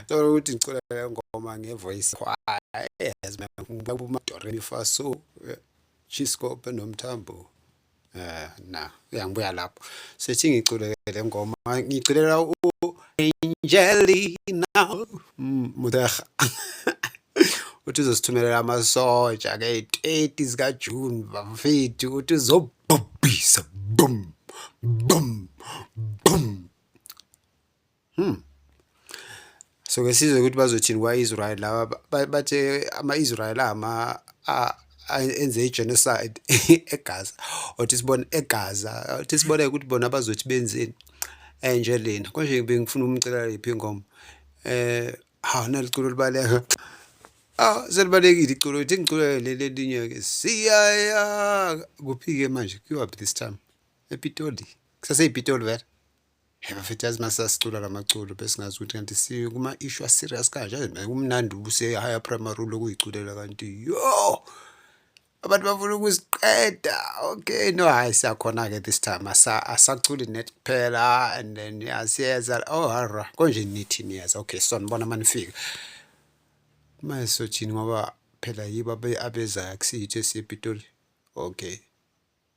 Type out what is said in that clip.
Ngicela ukuthi ngicula le ngoma ngevoice choir eyazi ngibeka umadoremi fa so eh, chiscope nomthambo eh na uyangibuya lapho sethi ngicule le ngoma ngiculela u Angelina mm, Mudaha uthi uzosithumelela amasoja ke 30 zika June bafethu uthi uzobhubhisa boom boom boom Hmm. So ke sizwe ukuthi bazothini kwa-Israel laba bathe ama-Israel ama enze i-genocide eGaza othi sibone eGaza othi sibone ukuthi bona bazothi benzeni enje lena konje bengifuna umcela lephi ingoma eh ha naliculo libaleka ah selibalekile iculo ithi ngiculo leli elinye ke siyaya kuphike manje kuyaphi this time epitoli kusaseyipitoli vele Hey bafethu yazi masasicula lamaculo besingazi ukuthi kanti si kuma issue serious kanje kumnandi ubuse higher primary lokuyiculela kanti yo abantu bafuna ukusiqeda okay no hayi siyakhona ke this time asa asaculi net kuphela and then yasiyeza oh hara konje nithi niyeza okay so nibona manifika manje sothini ngoba phela yiba abezayo akusiyitho esiyepitoli okay